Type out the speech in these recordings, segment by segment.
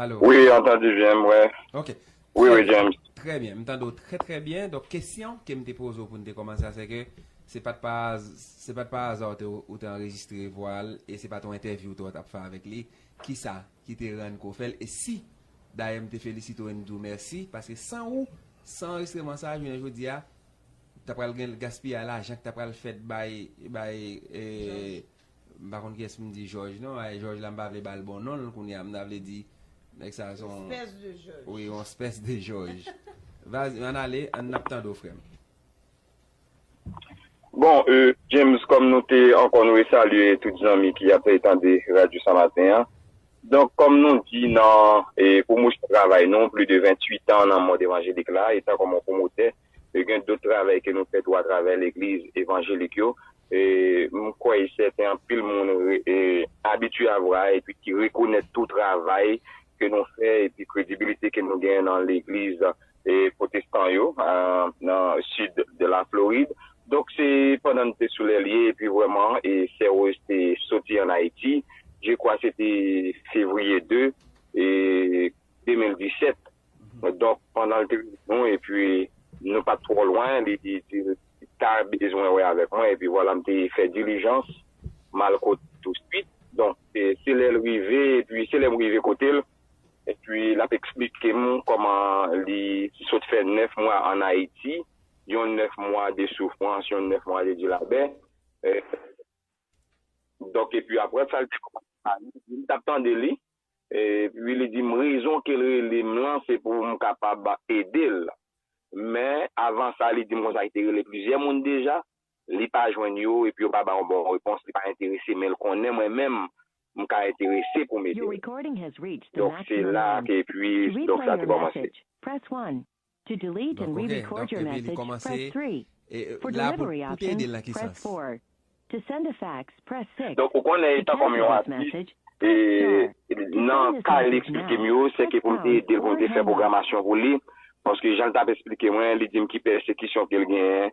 Alo. Wi, an tande byen mwen. Ok. Wi, wi James. Trè byen. M tande w trè trè byen. Donk kesyon ke m te poze w pou n te kòmanse a se ke se pa t pa az, se pa t pa aza ou te anrejistre vwa l e se pa t yon entèvyou tou w t ap fè avèk li. Ki sa ki te rann ke w fè l? E si dayè m te felisite w e m di w mèsi paske san ou, san anrejistreman sa a jounen jodi a ta pral gen gaspiyay lajan ki ta pral fèt bay, bay e, M pa konn kiyès pou m di Jòj non, ay Jòj la m pa vle ba l bon non l kounye a, m ta vle di nèg sa a se yon Espèce de Jòj. Wi, yon espèce de Jòj. Vas, ann ale, ann ap tande w frè m. Bon, euh, James, kòm nou te ankò nou resalye tout zanmi ki ap tande radyo sa maten an. Donk, kòm nou di nan e pwomosyon travay nou, pli de 28 an nan mond evanjelik la, etan kòm yon pwomotè, e gen dot travay ke nou fè tou a travè legliz evanjelik yo e m kwè e sèten anpil moun e abitye avwa e pi ki rekonèt tou travay ke nou fè e pi kredibilite ke nou gen nan legliz e pwotestan yo nan sid de la Florid. Donk se pandan n te sou lè lye e pi vrèman e sè Rose te soti an Ayiti, je kwa se te fevriye 2 e 2017. Donk, pandan l te wè nou epi nou pa t twò lwen, li di l ta bezwen wè avèk mwen. Epi vwala m te fè dilijans, m al kote l tousuit. Donk, se lè l rive, epi se lè m rive kote l, epi l ap esplike m kòman li sot fè nèf mwa ann Ayiti, yon nèf mwa de soufrans, yon nèf mwa de dilabè. Donk, epi apre sa, li te kòmanse pale. M t ap tande li. Epi li di m rezon ke l rele m lan se pou m kapab ede l. Men, avan sa, li di m konsa li te rele plizyè moun deja, li pa jwenn yo epi yo pa ba yon bon repons, li pa enterese men l konnen mwen menm m ka enterese pou m ede l. Donk se la ke epi donk sa te kòmanse. Dakò gen, donk epi li kòmanse, e la pou pou te ede l nan ki sans? Donk ou konnen etan kòm yon atis, e nan ka li eksplike m yo, se ke pou m te ede l pou m te fè pwogramasyon pou li, paske jan l t ap eksplike mwen, li di m ki pèsekisyon ke l genyen,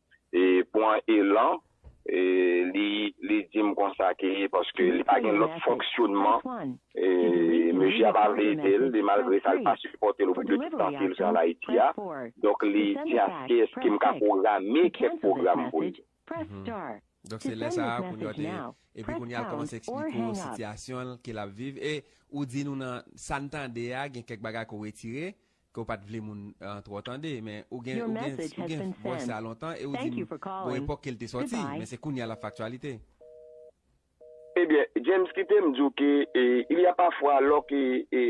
pwan elan li dim konsa ke paske li pa gen lòt fonksyonman mesye a pa vle edel e malgre sa li pa sipòtel pou tout tan ke li te an ayiti a donk li di aske eske m ka pwograme kèk pwogram pou li. Donk se lè sa a kounye a te epi kounye a kòmanse eksplike ou sitiyasyon l ke lap viv e ou di nou nan sa n tande a gen kèk bagay ke w retire ke w pat vle moun an twò tande men ou gen ou gen ou gen vwè sa lontan e ou di m gon epòk ke l te sòti men se kounye a l ap fè aktyalite. Ebyen James kite m di w ke il y a pafwa lò ke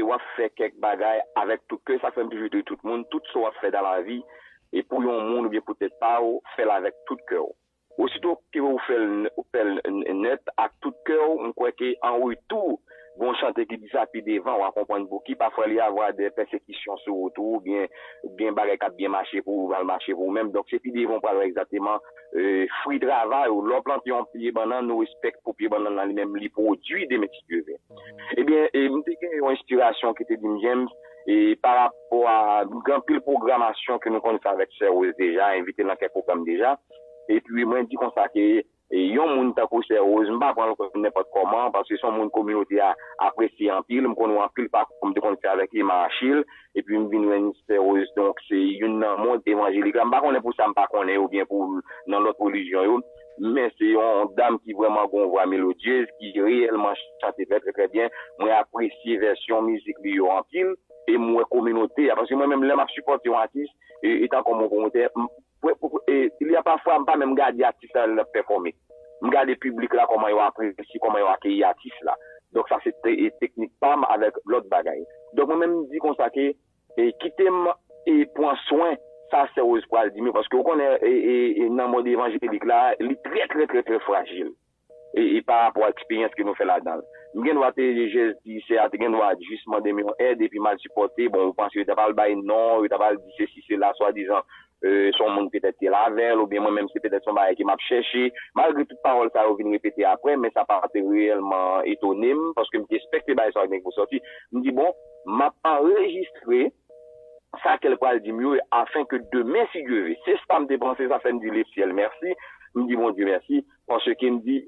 w ap fè kèk bagay avèk tout kè sa k fè m toujou di tout moun tout sa w ap fè dan lavi e pou yon moun oubyen pou tèt pa w fè l avèk tout kè w. Osito ke ou fè l, ou fè l nèt ak tout kè w, m kwè ke an retou, gon chante ki di sa pi devan wa konprann pouki, pafwa li avwa dè pèsekisyon sou wout ou, oubyen gen bagay kap byen mache pou ou, mal mache pou ou menm, donk se pi devan ou pral wè egzakteman fri travay ou, lè w plante yon pye bannann ou espèk pou pye bannann lan li menm li pwodui demen si Dye ve. Ebyen m te gen yon enspirasyon ki te di m James, pa rapò a gen anpil pwogramasyon ke nou konn fè avèk sè Rose deja, envite l nan kèk pwogram deja, Epi mwen di konsa ke yon moun tankou sè Rose m pa pran l kòm nenpòt kòman paske se yon moun kominote a apresye anpil, m konnen w anpil pakou m te konn fè avèk Emma Achille epi m vin jwenn sè Rose donk se youn nan mond evanjelik la m pa konnen pou sa m pa konnen yo oubyen pou nan lòt relijyon yo men se yon dam ki vrèman gen yon vwa melodyez ki reyèlman chante trè trè trè byen mwen apresye vèsyon mizik li yo anpil e m wè kominote a paske mwen menm lè m ap sipòte yon atis etan kòm yon pwomotè m Ilya pafwa m pa menm gade atis la lè l ap pèfòme. M gade piblik la kòman yo apresye, kòman yo akeyi atis la. Donk sa se teknik pa m avèk lòt bagay. Donk mwen menm m di konsa ke kite m pran swen sa sè Woz pral di m yo paske ou konnen nan mond evanjelik la li trè trè trè trè frajil. e pa rapò a eksperyans ke nou fè ladanl. M gen dwa te jès di sè a te gen dwa jis mande m yon èd epi m al sipòte, bon ou panse yo ta pral bay non, yo ta pral di sesi sela swadizan se yon moun petèt ke l avèl oubyen mwen menm se petèt se yon bagay ke m ap chèche. Malgre tout pawòl sa yo vin repete aprè men sa pa te reyèlman etone m paske m te espèkte bagay sa yo te gen pou sòti. M di bon m ap anrejistre sa ke l pral di m yo afen ke demen si Dye ve. Se sa m te panse sa fè m di lesyèl mèsi, m di Bondye mèsi. Paske m di,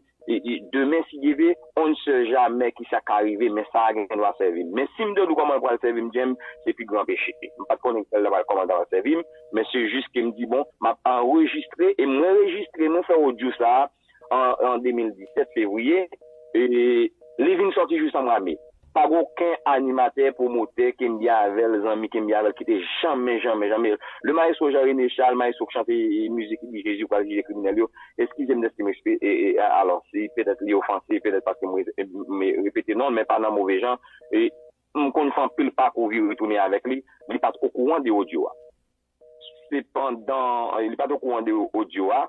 demen si Dye vle, on ne sait jamais ki sa ka rive, men sa a gen dwa sèvi m. Men si m te di w kòman l pral sèvi m, James, se pi gran peche. M pa t konnen kòman l pral sèvi m, men se jis ke m di, bon, m ap anrejistre, e mwen rejistre nou fè odyo sa a an 2017, fevriye, e li vin sòti jou sa mwa me. Pa gen oken animatè, pwomotè, kenbyen avè l, zanmi kenbyen avè l ki te janmen, janmen, janmen Le maestro Jean René Charles, maestro k chante mizik li di Jezi pral jije kriminèl yo, eskize m dèske m espe e e alò si petèt li ofanse, petèt paske m m repete non l men pa nan move jan e m konn fè anpil pakou vire tounen avèk li, li pa t okouran de odyo a. Se pandan li pa t okouran de odyo a,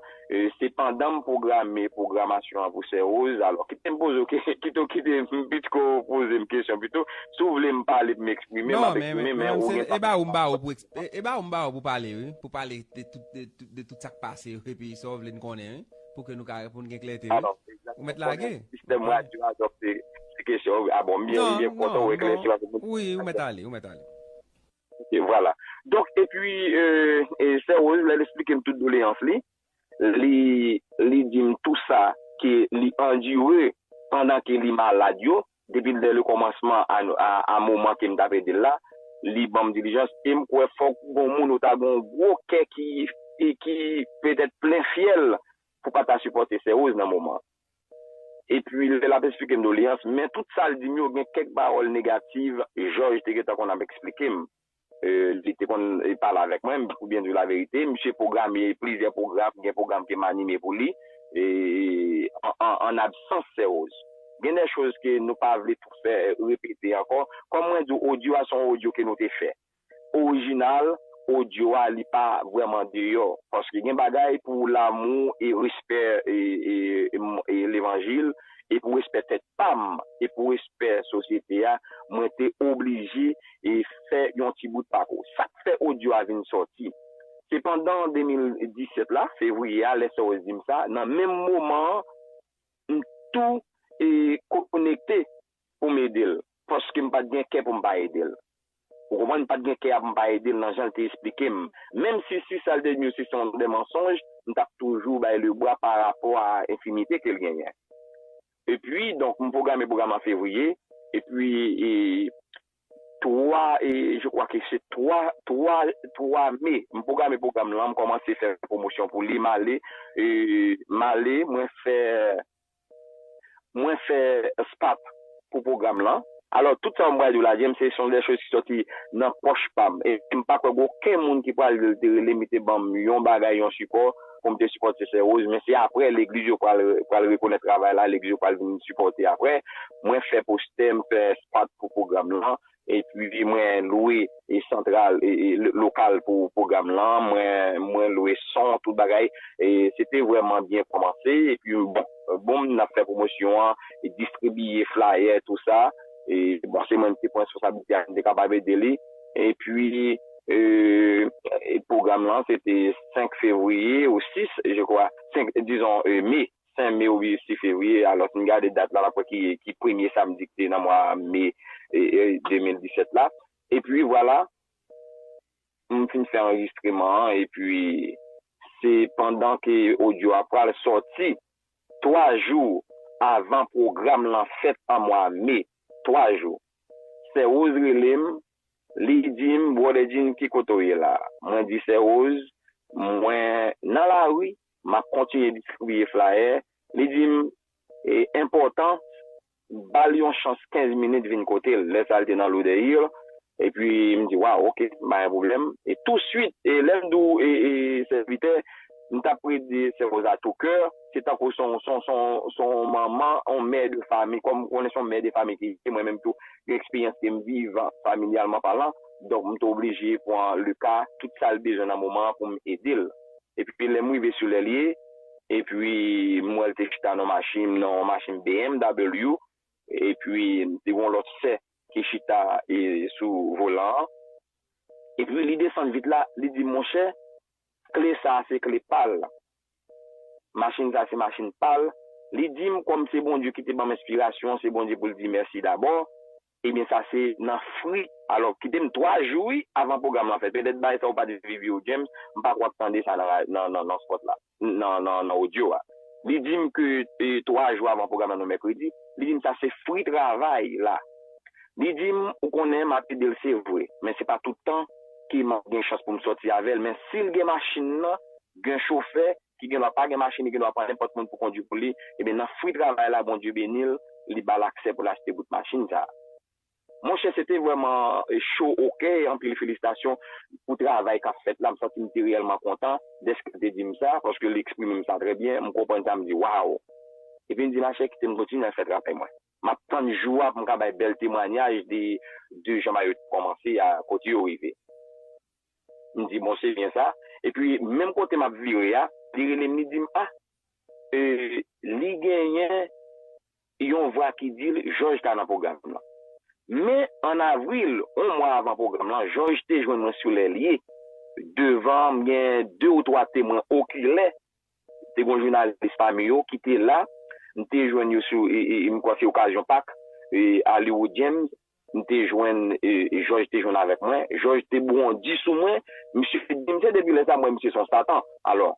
se pandan m pwograme pwogramasyon an pou Sè Woz, alò kite m poze w, kite w kite m pitko poze m kesyon pito, si w vle m pale pou m eksprime m ap eksprime men ou gen pa pou pale. E ba ou m ba ou pou pale wi, pou pale de tout sa k pase yo epi sa w vle n konnen wi, pou ke nou ka pou n gen klète wi. Ou mèt lage. Sistèm radyo a dòk se kesyon wi. A bon m byen kontan ou eklèsi paske m. Wi ou mèt ale, ou mèt ale. E vwala. Donk, epi, Sè Rose, lè l esplike m tout doleyans li, li, li di m tou sa ke li andire pandan ke li malad yo, depi dè lekòmansman a, a, a moman ke m ta pèdi l la, li ban m dilijans, e m kwè fòk gon moun ou ta gon gwo kè ki, ki petèt plen fyèl pou pa ta sipòte Sè Rose nan moman an. Epi lè l ap esplike m doleans, men tout sa l di m yo gen kèk pawòl negativ, Jòj te gentan konn ap esplike m, li te konn pale avèk mwen, pou byen di w laverite, misye pwograme plizyè pwogram, gen pwogram ke m anime pou li, an absans Sè Woz. Gen dè choz ke nou pa vle tou fè repete ankò, kòm mwen di w odyo a se yon odyo ke nou te fè, Original audio a li pa vreman deyo paske gen bagay pou lamou e respè levanjil e pou respè tèt pam e pou respè sosyete a mwen te oblije fè yon ti bout pako sak fè audio a vin soti se pandan 2017 la fevriye a lè Sowes dim sa nan menm moman an m tou konekte pou m ede l, paske m pa t gen kè pou m pa ede l. Ou konprann, m pa t gen kè a pou m pa ede l nan jan l te esplike m. Menm si si sa l te di yo se se yon de mansonj, m t ap toujou bay le bwa pa rapò a enfimite ke l genyen. Epi, donk, m pwograme pwogram an fevriye, epi, e, twa, e, je kwa ke se twa, twa, twa me, m pwograme pwogram lan, m kòmanse fè pwomosyon pou li, m ale, e, m ale, mwen fè, Mwen fè spap pou pwogram lan. Alò, tout sa mwen pral di w la, James, se son dè choz ki sòti nan pòch pa m. E m pa kwè gen oken moun ki pral di l te rele m, li te ban m yon bagay, yon sipò pou m te sipòte Sè Woz. Men se apre, legliz yo pral rekonèt travay la, legliz yo pral vin sipòte apre. Mwen fè postè, m fè spap pou pwogram lan. Epi mwen lwe santral lokal pou pwogram lan, mwen lwe son, tout bagay. Se te vrèman byen kòmanse. Epi bon, boum, n ap fè pwomosyon an, distribiye flayè, tou sa. Bon, se mwen ki te pran responsablite a, m te kapab ede li. Epi pwogram lan se te 5 fevriye ou 6, je kwa, dizon me. Sen me ou bye sife wi e alos m gade dat la map we ki premye samdi ki te nan mwa me 2017 la epi vwala m fin fe anrejistreman an epi se pandan ke odyo a pwal soti 3 jou avan pwogram lan fet an mwa me 3 jou sè Rose relem li dim brother Djin ki kote w ye la mwen di sè Rose mwen nan lari M ap kontinye distribiye flayè. Li di m e enpòtan ba l yon chans 15 minit vin kote l. Lè sa l te nan Louderhill epi m di waw ok m pa gen pwoblèm. E tousuit e lè m di w e e sèvitè m t ap pre di sè Rose a tou kè se tankou s on s on manman on mè de fami kòm konnen s on mè de fami ki mwen menm tou gen eksperyans ke m viv familyalman palan donk m te oblije pran Lucas tout sa l bezwen nan moman an pou m ede l. Epi lè m rive sou lè l ye, epi m wè l te chita nan yon machin bmw, epi te gen yon lòt sè ki chita sou volan an. Epi li desann vit la, li di m, monchè, kle sa a se kle pa l. Machin sa a se machin pa l. Li di m, kòm se Bondye ki te ban m enspirasyon an, se Bondye pou l di mèsi dabò. Ebyen sa se nan fri alò kite m 3 jou wi avan pwogram lan fèt petèt bay sa ou pat viv yo James m pa kwè ap tande sa nan spot la nan audio a li di m ke 3 jou avan pwogram lan nou mèkredi li di m sa se fri travay la li di m ou konnen m ap ede l se vre men se pa tout tan ke m ap gen chans pou m sòti avè l men si l gen machin nan gen chofè ki gen dwa pa gen machin li gen dwa pran nenpòt moun pou kondwi pou li, ebyen nan fwi travay la Bondye beni l li ba l aksè pou l achte bout machin sa. Monchè se te vrèman cho o kè anpil felisitasyon pou travay k ap fèt la m santi m te reyèlman kontan dèske l te di m sa paske li eksprime m sa trè byen m konprann sa m di waww epi m di machè kite m kontinye al fè travay mwen m ap tann jou a pou m ka bay bèl temwanyaj de de jan Mayo te kòmanse a kote yo rive. M di bon se byen sa. Epi menm kote m ap vire a, li rele m li di m a e li genyen yon vwa ki di l Jòj ta nan pwogram nan. Men an avril, yon mwa avan pwogram lan, Jòj te jwenn mwen sou lè l ye devan m gen de ou twa temwen okilè. Te gen jounalis pami yo ki te la, m te jwenn yo sou m kwè se okazyon Pak, Hollywood James M te jwenn Jòj te jwenn avèk mwen. Jòj te bondi sou mwen. Misye di m se depi lè sa m wè misye se yon satan. Alò,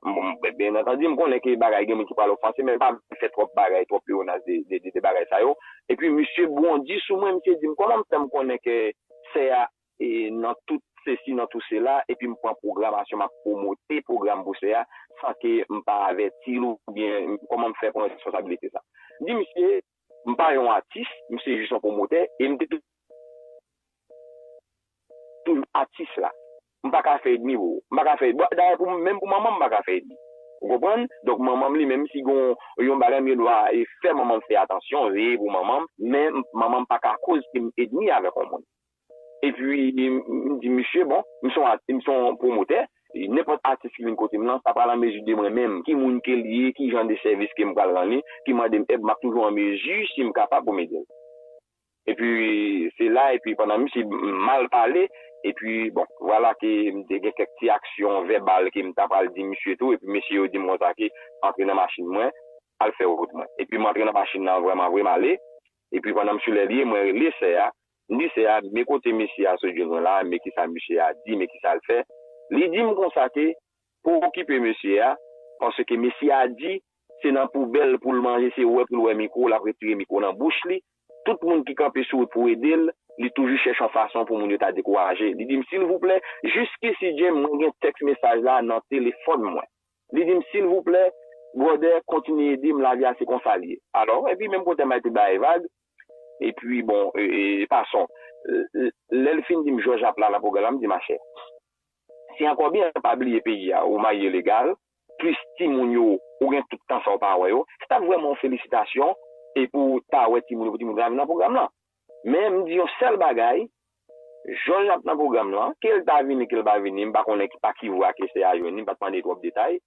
byen antandi m konnen ke bagay gen moun ki pral ofanse men m pa vle fè twòp bagay, twòp pleonas de bagay sa yo. Epi misye bondi sou mwen, misye di m kòman m fè m konnen ke sè a nan tout sesi nan tout sela epi m pran pwogramasyon m ap pwomote pwogram pou sè a san ke m pa avèti l oubyen kòman m fè pran responsabilite sa. M di misye. M pa yon atis, m se jis yon pwomotè e m te toujou di atis la, m pa ka fè edmi pou ou. M pa ka fè edmi. Dayè menm pou manman m m pa ka fè edmi. Ou konprann? Donk manman m li menm si gen yon bagay m gen dwa fè manman m fè atansyon, veye pou manman m, men manman m pa ka koz ke m edmi avèk yon moun. Epi m di misye, bon, m se yon pwomotè, nenpòt atis ki vin kote m lan pa pral an mezi de mwen menm ki moun ke l ye, ki jan de sèvis ke m pral rann li, ki mande m èd, m ap toujou an mezi, si m kapab, pou m ede l. Epi se la, epi pandan misye mal pale, epi bon, vwala ke m te gen kèk ti aksyon vèbal ke m ta pral di misye tou, epi mesye yo di m konsa ke antre nan machin mwen, al fè wout mwen. Epi m antre nan machin lan vrèman vre, m ale. Epi pandan m sou lè li, mwen rele sè a, m di sè a, men kote mesye a sot jwenn mwen la a, men kisa misye a di, men kisa l fè. Li di m konsa ke, Pa okipe mesye a, paske mesye a di se nan poubèl pou l manje, se wè pou l wè mikwo, l ap retire mikwo nan bouch li. Tout moun ki kanpe sou wout pou ede l, li toujou chèche yon fason pou moun yo ta dekouraje. Li di m, Silvouplè, jiskisi James, mwen gen tèks mesaj la nan telefòn mwen. Li di m, Silvouplè, bwòdè, kontinye ede m, lavi a se konsa l ye. Alò, epi menm kote Mike te ba l vag, epi bon, pason, lè l fin di m Jòj ap la nan pwogram la, m di, Machè, se ankò byen, pa bliye peyi a, ou marye legal, plis timoun yo, ou gen tout tan sa w pa wè yo, se t ap vrèman yon felisitasyon, epi w ta wè timoun yo, pou timoun yo ta vin nan pwogram lan. Men m di yon sèl bagay, Jòj ap nan pwogram lan, ke l ta vini ke l pa vini, m pa konnen pa ki vwa Kester a jwenn li, m pa t mande twòp detay.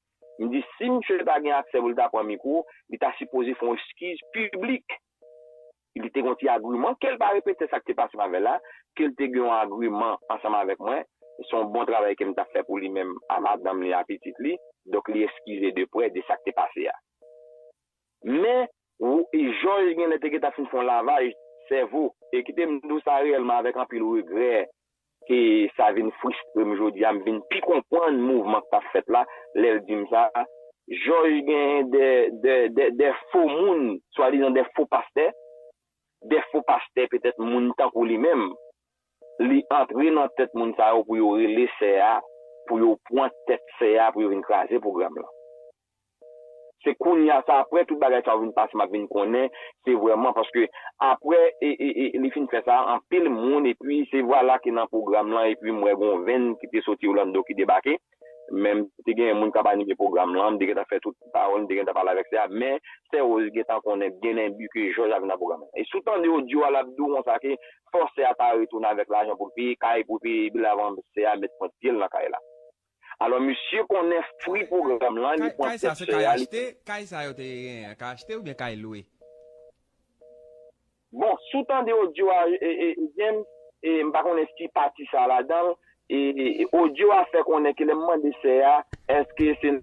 M di si misye ta gen aksè pou l ta pran mikwo, li ta sipoze fè yon eskiz piblik. Li te gen yon ti agiman, ke l pa repete sa k te pase m avè l la, ke l te gen yon agiman ansanm avèk mwen, se yon bon travay ke m ta fè pou li menm a madanm li, a pitit li, donk li eskize de prè de sa k te pase a. Men, Jòj gen lè te gentan fin fè yon lavaj sèvo. E kite m di w sa reyèlman avèk anpil regrè ke sa vin fristre m jodi a, m vin pi konprann mouvman k t ap fèt la lè l di m sa, Jòj gen de fo moun, swadizan de fo pastè, de fo pastè petèt moun tankou li menm, li antre nan tèt moun sa yo pou yo rele sè a, pou yo pran tèt sè a pou yo vin kraze pwogram lan. Se kounya se aprè tout bagay sa yo vin pase map vin konnen se vrèman paske aprè li fin fè sa anpil moun epi se vwala ke nan pwogram lan epi m wè gon venn ki te soti Orlando ki debake men m te genyen moun kap anime pwogram lan m te gentan fè tout pawòl m te gentan pale avèk sè a men sè Rose gentan konnen byen enbi ke jòj ap vin nan pwogram lan e si w tande odyo a lap di w konsa ke fòk sè a ta retounen avèk lajan pou l peye kay pou l peye bil avan sè a met pwent pye l nan kay la. Alò misye konnen fri pwogram lan li pwan tèt sè a li. Kay sa yo te genyen an ka achte oubyen kay lwe? Bon si w tande audio a James m pa konnen si pati sa ladan l audio a fè konnen ke lè m mande sè a eske se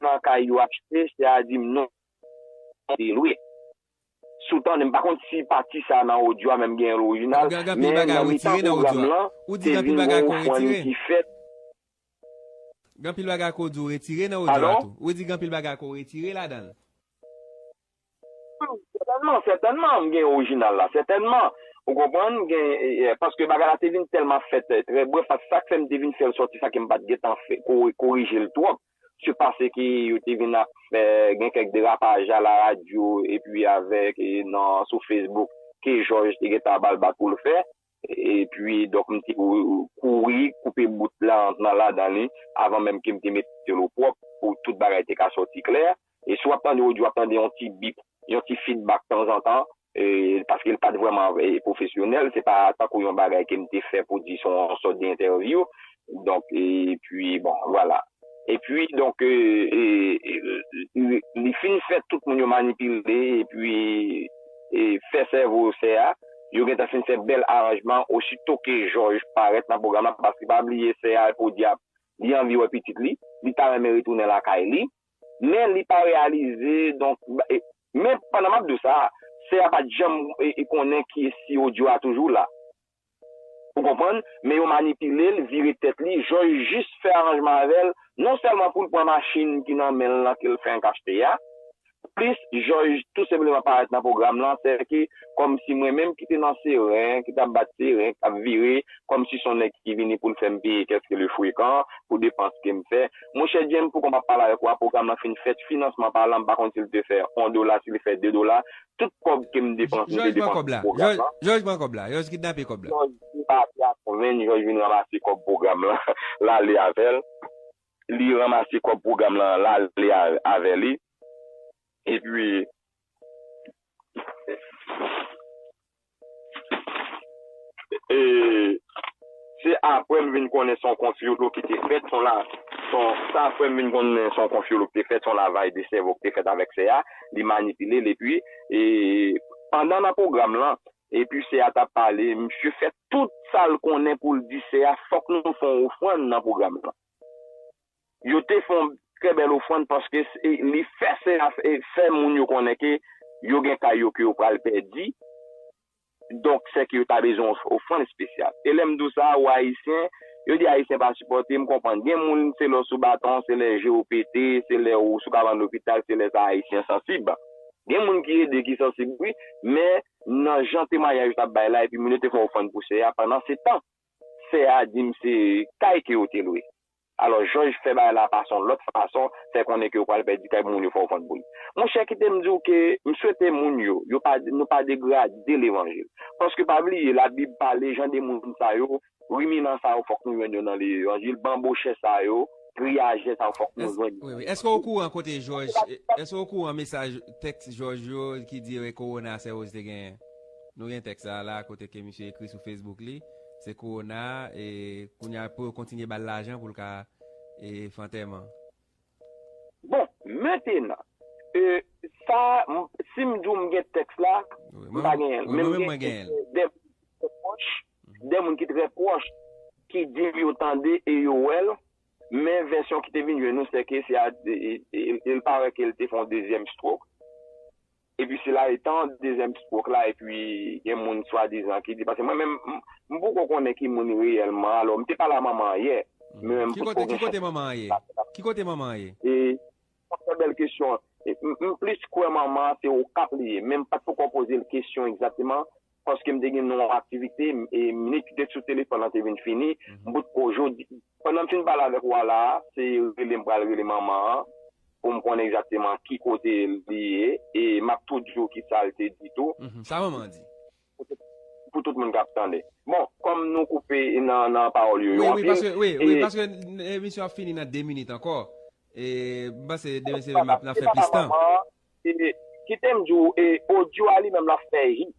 nan kay yo achte sè a di m non se lwe. Sou tande m pa konn si pati sa nan odyo a menm genyen l orijinal men nan mitan pwogram lan te vin gen yon fwani ki fèt. Padon? Sètènman, sètènman m gen orijinal la sètènman ou konprann paske bagay la te vin tèlman fèt trè brèf paske sa k fè m te vin fè l sòti sa ke m pa t gen tan korije l twòp. Se pase ke yo te vin ap fè gen kèk derapaj a la radyo epi avèk nan sou Facebook ke Jòj te gen tan ba l bat pou l fè. Epi donk m te kouri koupe bout la an nan ladan li avan menm ke m te mete l opwòp pou tout bagay te ka sòti klè. E si w ap tande odyo w ap tande yon ti bip, yon ti fidbak tanzantan. paske l pa t vrèman pwofesyonèl, se pa tankou yon bagay ke m te fè pou di se yon sòt de entèvyou, donk epi bon vwala. Epi donk li fin fè tout moun yo manipile epi fè sèvo sè a, yo gentan fin fè bèl aranjman osito ke Jòj parèt nan pwogram la, paske pa bliye sè a, Podyab, li anvi wè pitit li, li ta renmen retounen lakay li, Men li pa reyalize donk Men pandan map diw sa Sè a pat janm konnen ki si odyo a toujou la Ou konprann Men yo manipilel vire tèt li Jòj jis fè aranjman avèl non sèlman poul pran machin ki nan menl lan kel fenk achte a plis Jòj tou senpleman parèt nan pwogram lan sè ke kòmsi mwen menm ki te nan seren ki tap bat seren kap vire kòmsi son nèg ki vini poul fèm peye kèlke le frekan pou depans kem fè. Mon chè James poukò map pale avèk ou a pwogram lan fin fèt finansman pa lan m pa konn sil te fè 1 dola sil fè 2 dola tout kòb kem depans m te depans pou pwogram lan. Jòj pran kòb la jòj kidnape kòb la. Jòj vin pati ak konvenn jòj vin ranmase kòb pwogram lan lale avèl li ranmase kòb pwogram lan lale avè li epi. E se apre m vin konnen se yon konfyolo ki te fèt, son la, son, se apre m vin konnen se yon konfyolo ki te fèt, se yon lavaj de sèvo ki te fèt avèk sè a, li manipile l epi, e, pandan nan pwogram lan, epi sè a t ap pale, misye fè tout sa l konnen pou l di sè a fòk nou fè yon ofrann nan pwogram lan. Yo te fè yon trè bèl ofrann paske li fè se a fè moun yo konnen ke yo gen kay yo ke yo pral pèdi, donk sèke yo ta bezwen yon ofrann espesyal. E lè m di w sa, ou Ayisyen, yo di Ayisyen pa sipòte, m konprann. Gen moun se lè w sou baton, se lè je w pete, se lè ou sou kabann lopital, se lè sa Ayisyen sansib. Gen moun ki ede ki sansib wi, men nan jan temwanyaj yo t ap bay la epi moun yo te fè ofrann pou sè a, pandansetan sè a di m se kay ke yo te lwe. Alò jòj fè bagay la pa son lòt fason fè konnen ke ou pral pèdi kay moun yo fè w vant boul. Monchè kitem di w ke m swete moun yo yo pa nou pa degrade levanjil. Paske pa bliye la bib pale jan de moun sa yo riminan sa yo fòk nou jwenn yo nan levanjil banbochè sa yo griyajè sa yo fòk nou jwenn yo nan levanjil. Eske w okouran kote jòj eske w okouran mesaj tèks jòj yo ki di re kowona sèwoz te genyen? Nou gen tèks sa a la kote ke misye ekri sou facebook li. Se kowona e kounya pou yo kontinye bal lajan poul ka e fè antèman. Bon mentenan e sa sim diw m gen tèks la m pa genyen l men m gen de pwòch de moun ki trè pwòch ki di m yo tande e yo wè l men vèsyon ki te vin jwenn nou se ke se a e l pare ke l te fon dezyèm strok. Epi sila etan dezyèm stroke la epi gen moun swadizan ki di paske mwen menm m poko konnen ki moun reyèlman alò m te pale a manman an yè men m potko gen chans Ki kote manman an ye? E yon trè bèl kesyon. M plis kwè manman an se Okap li ye men m pat poko poze l kesyon egzakteman paske m te gen yon aktivite e minit ki te sou telefòn lan te vin fini, m bout ko jodi. Pandan m fin pale avèk ou a la a, se rele m pral rele manman an pou m konnen egzakteman ki kote li ye e m ap tou di ou ki sa l te di tou. Sa manman an di? Pou tout moun k ap tande. Bon, kòm nou koupe nan pawòl yo yo anpil. Wi, wi, paske emisyon an ap fini nan 2 minit ankò e m panse demen se m ap fè plis tan. Kitem diw audio a li menm lap fè hit,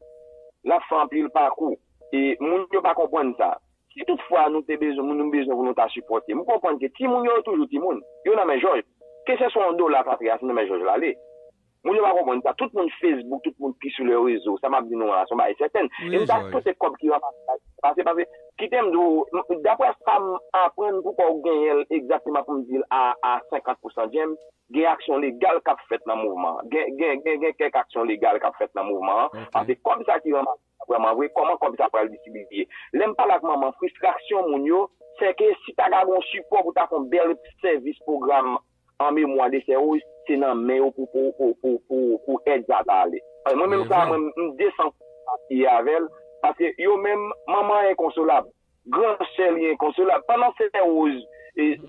lap fè anpil pakou, e moun yo pa konprann sa. Si tout fwa nou te bezwen moun nou bezwen pou nou ta sipòte, m konprann ke ti moun yo toujou ti moun, yo nan men jòj. Ke se swa yon dola ka antre a se nan men jòj lale. Moun yo pa konprann sa, tout moun Facebook, tout moun ki sou le rezo, sa map di nou a son bagay sèten. E m ta swete kòb ki ranmase la ta pase paske kitem diw daprè sam aprann poukòw genyenl egzakteman poum dil a 50 pousan James, Gen aksyon legal k ap fèt nan mouvman an. Gen gen kèk aksyon legal k ap fèt nan mouvman an. Pase kòb sa ki ranmase la vrèman vre, kòman kòb sa pral distribiye. Lè m pale ak manman, fristraksyon moun yo, sè ke si ta ka gen yon sipò pou ta fè yon bèl sèvis pwogram an memwa de sè Woz, se nan men yo pou pou èd sa ta ale. Mwen menm sa a, mwen m desan pou m pa peye avè l, pase yo menm, manman an enkonsolab. Gran sè li enkonsolab. Pandan sè Rose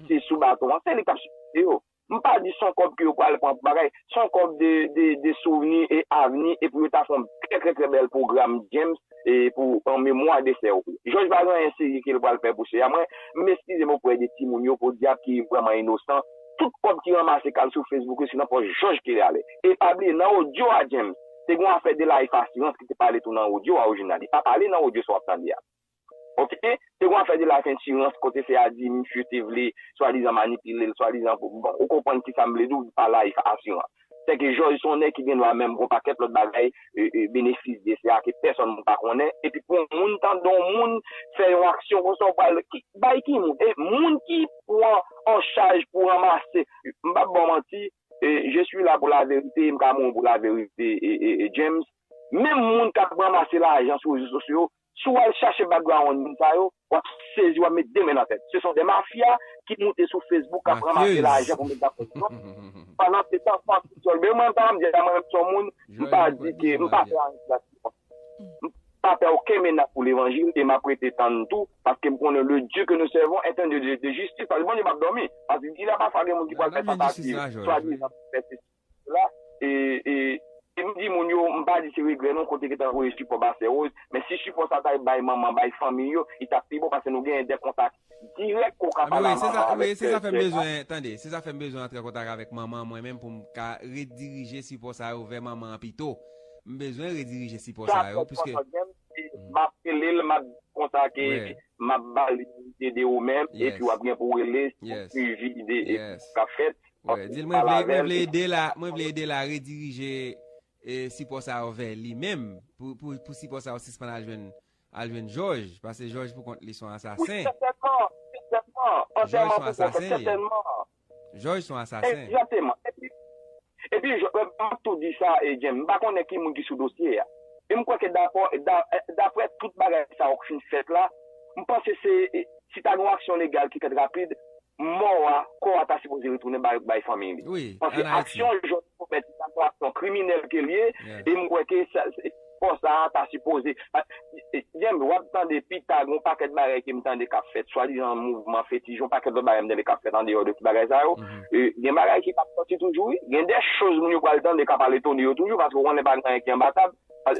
te sou baton an, se li k ap sipote yo. M pa di son kòb ke yo pral pran pou bagay. Son kòb de souvni e avni e pou yo ta fè yon trè trè trè bèl pwogram James pou an memwa de sè Rose. Jòj pa gen anyen serye ke l pral fè pou sè a. Mwen, m eskize m oprè de timoun yo podyab ki vrèman inosan. Tout kòb ki ranmase k al sou Facebook yo se nan pòch Jòj ke li ale. E pa bliye nan odyo a James, te gen yon afè de Life Assurance ki te pale tou nan odyo a orijinal. Li pa pale nan odyo sa w ap tande a. Ok se yon afè de la sentirans kote se a di misye te vle swadizan manipilel swadizan pou bon ou konprann kisa m vle di w pa life asirans se ke jòj son nèg ki gen dwa menm gon pakèt lòt bagay benefis de sa ke pèsòn pa konnen epi pou yon moun tande yon moun fè yon aksyon konsa ou pral bay ki moun e moun ki pran an chaj pou ranmase m pap ba w manti je suis là pour la vérité e m ka mouri pou la verite James menm moun kap ranmase lajan sou rezo sosyo Si w al chache background moun sa yo, w ap sezi, w ap met 2 men nan tèt. Se son 2 mafya ki moute sou Facebook k ap ranmase lajan pou met nan prizon. Pandan se tan Francis Tolbert, mwen m ta di a mwen menm son moun, m pa di ke, m pa pè anyen ki pase pou mwen. M pa pè oken menas pou levanjil e m ap rete tann tou paske m konnen le Dieu que nous servons est un Dieu de justice paske Bondye p ap dòmi paske di la pafwa gen moun ki pral fè tantativ swadizan pou fè sesi. la e e m di moun yo m pa di se regrè non kote ki ta voye sipò ba sè Rose men si sipò sa ta bay manman bay fanmiy yo li tap pi bon pase nou genyen de kontak dirèk ke w ka pale a manman an avèk sè a. Tande se sa fè m bezwen antre an kontak avèk manman an mwen menm pou m ka redirije sipò sa yo vè manman an pito m bezwen redirije sipò sa yo pwiske. Sa fèt konsa m ap rele l m ap konsa ke m ap ba li ide ou menm epi w ap gen pou w rele pou swivi ide kap fèt Wè, di l mwen vle, mwen vle ede l a, mwen vle ede l a redirije e sipò sa yo vè li menm, pou, pou, pou sipò sa yo sispann al jwenn, al jwenn Jòj, pase Jòj pou kont li son asasen. Wi, sètènman, sètènman, antèman pou kont li, sètènman. Jòj son asasen. Egzakteman. Epi, epi Jò, m ap tou di sa, e James, m pa konnen ki moun ki sou dosye a. E m kwè ke dapò, da, daprè tout bagay sa yo k fin fèt la, m panse se, si ta gen yon aksyon legal ki fèt rapid, mò a, kò a ta sipoze retounen bay fanmiy li. Paske aksyon Jòn te komèt se ta yon aksyon kriminèl ke li ye, e m kwè ke kò sa a ta sipoze. James, w ap tande pita gen yon pakèt bagay ke m tande k ap fèt, swadizan mouvman fetich, gen yon pakèt lòt bagay m tande k ap fèt andeyò de tout bagay sa yo. Gen bagay ki p ap sòti toujou wi. Gen dè choz moun yo pral tande k ap al etone yo toujou, paske w konnen pa gen anyen ki anba tab.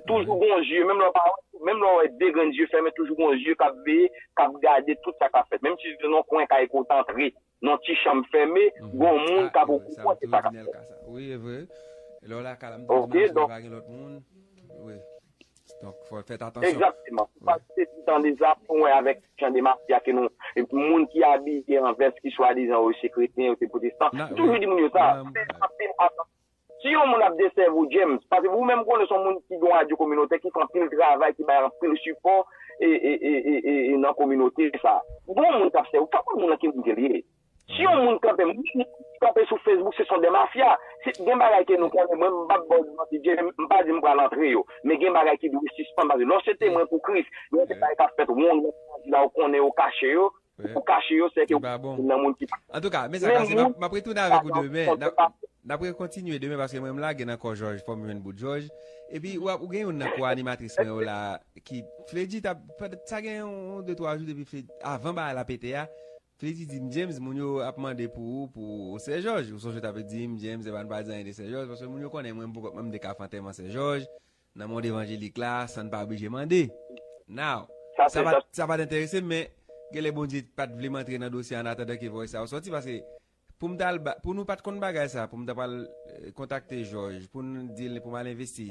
Toujou gon zye, menm lè w pa wè, menm lè w wè 2 grenn zye fèmen, toujou gon zye k ap veye, k ap gade tout sa k ap fèt. Menm si se nan yon kwen kay ke w te antre, nan yon ti chanm fèmen, gon moun k ap okouran de sa k ap fèt. Ok, donk. Egzakteman. Pou pa kite ti tan de sa, pou mwen avèk jan de mafya ke nou, moun ki abiye an vès, ki swadizan yo se kretyen, yo se pwotestan, m toujou di moun yo sa, m fè anpil atansyon. Si yon moun ap desèvi w James, pase pou ou menm konnen son moun ki gen yon radyo kominotè ki fè anpil travay ki bay anpil sipò nan kominote sa. Bon moun kap sèvi w pa konn moun nan ki moun ke li ye. Si yon moun kanpe moun ki kanpe sou Facebook se son de mafya. Gen bagay ke nou konnen mwen m pap baw manti James m pa di m pral antre yo men gen bagay ki dwe sispann pase lè w se temwen pou Kris gen de bagay kap fèt wonn nan peyi a ou konnen yo kache yo Ou kache yo seke ou gen youn nan moun ki pa. Antouka mes akase map retounen avek ou demen nap re kontinye demen paske mwen m lage nan kò jòj fòm jwenn bout jòj epi ou gen youn nan kò animatris mwen yo la ki fledji tap sa gen yon de twa jou depi fledji avan bagay la pete a fledji dim James moun yo ap mande pou ou pou ou sè jòj ou sonje ou t ap dim James epa nou pa di anyen de sè jòj paske moun yo konnen mwen m pou kòm mwen m deka fè antèman sè jòj Nan mond evanjelik la, san n pa blije mande. Now, sa pa t enterese m, men genlè Bondye pa t vle m antre nan dosye a an atandan ke vòy sa yo sòti, paske pou m t al, pou nou pa t konn bagay sa, pou m ta pral kontakte Jòj, pou n di l pou m al envesti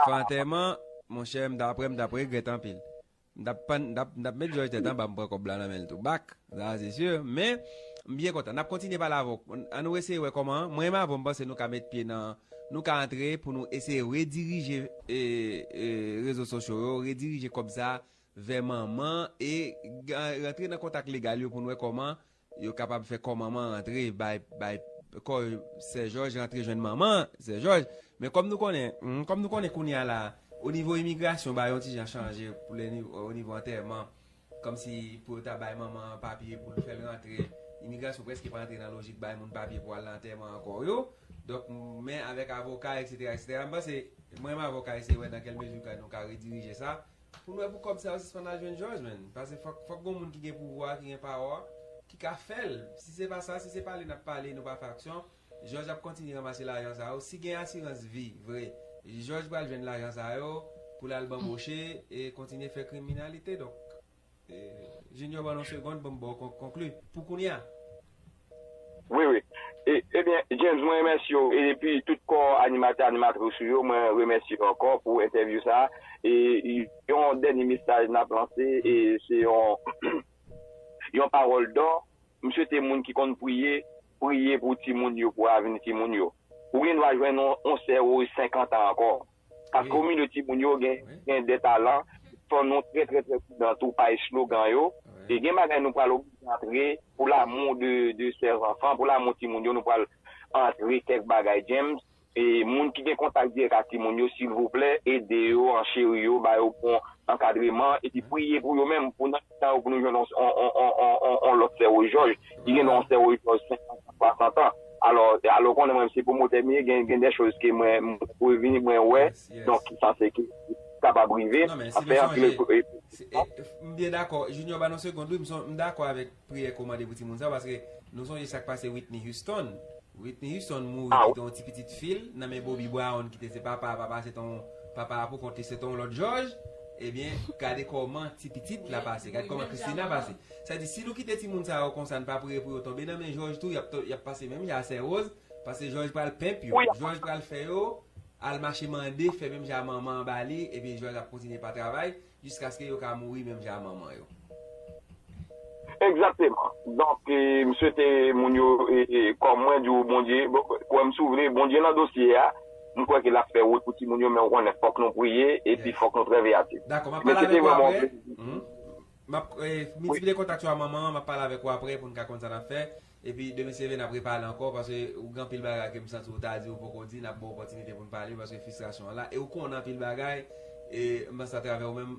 fè antèman, monchè m t aprè m t ap regrèt anpil. M t ap pann, m t ap, m t ap met Jòj tèt anba m pran kòb la nan men l tou bak, sa se si. Men, m byen kontan. N ap kontinye pale avè w. An nou eseye wè kòman, mwen menm avè w m panse nou ka met pye nan, nou ka antre pou nou eseye redirije e, e rezo sosyo yo, redirije kòb sa vè manman e, e rantre nan kontak legal yo pou n wè kòman Yo kapab fè kò manman an antre bay bay kò sè jòj rantre jwenn manman sè jòj men kòm nou konnen humm kòm nou konnen kounya la o nivo imigrasyon bagay yon ti jan chanje pou lè ni o nivo antèman kòm si pou yo ta bay manman an papye pou l fèl rantre imigrasyon prèske pa antre nan lojik bay moun papye pou al nan antèman ankò yo donk men avèk avoka eksetera eksetera m panse mwen m avoka eseye wè nan kèl mezi ka nou ka redirije sa Pou lwe pou kob sa yo sispann al jwenn jòj menn pase fok fok gon moun ki gen pouvwa ki gen pawa ki ka fèl si se pa sa si se pale nap pale nou pa fè aksyon jòj ap kontinye ranmase lajan sa yo si gen asirans vi vre jòj pral jwenn lajan sa yo poul al banboche e kontinye fè kriminalite donk. Junior ban nou segond pou m ba w konklu pou kounye a. Wi wi Ebyen James mwen remèsye w epi tout kò animatè animatris ou yo mwen remèsye yo ankò pou entèvyou sa e yon dènye mesaj n ap lanse e se yon yon pawòl dò m swete moun ki konn priye priye pou timoun yo pou avni timoun yo ou gen dwa jwenn yon sè ou 50 an ankò Paske ou milieu timoun yo gen gen de talan fò nou trè trè trè pridan tou pa eslogan yo e gen bagay nou pral oblije antre pou lamou de de sè zanfan pou lamou timoun yo nou pral antre kèk bagay James e moun ki gen kontak dirèk ak timoun yo silvouplè ede yo ancheri yo ba yo bon ankadreman epi priye pou yo menm pou nan Sa yo pou nou jwenn yon lòt Sèwojòj ki gen yon Sèwojòj 50 an, 60 an. Alò, alò konnen mwen se pwomotè m ye, gen dè choz ke mwen preveni, mwen wè, donk ki sanse ki kapab rive. Non men, si nou sonje, m byen dakò, Junior ba nou segond wi, m dakò avèk priyè ke w mande pou timoun sa yo, paske nou sonje sa k pase Whitney Houston. Whitney Houston mouri kite yon ti pitit fi l nan men Bobby Brown ki te se papa a, papa a se te yon, papa a pou kont li se te yon lòt jòj. Ebyen gade koman ti pitit la pase gade koman Christina pase sa di si nou kite timoun sa yo konsa nou pa priye pou yo tonbe nan men jòj tou yap pase menm jan a sè Rose paske jòj pral pimp yo jòj pral fè yo al mache mande fè menm jan a manman an ba li ebyen jòj ap kontinye pa travay jiskaske yo ka mouri menm jan a manman yo. Egzakteman donk m swete moun yo kòm mwen di w Bondye kwè m si w vle Bondye nan dosye a m kwè ke l ap fè wout pou timoun yo men w konnen fòk nou priye epi fòk nou trè veyatif men se te vrèman yon plezi. Map miltiplye kontak yo a manman an map pale avèk ou aprè pou n ka konn sa nap fè epi de mesye vena prepale ankò paske ou gen anpil bagay ke m santi ou ta di ou poko di nap ba w opòtinite pou n pale paske fistrasyon an la e ou konnen anpil bagay e m panse atravè ou menm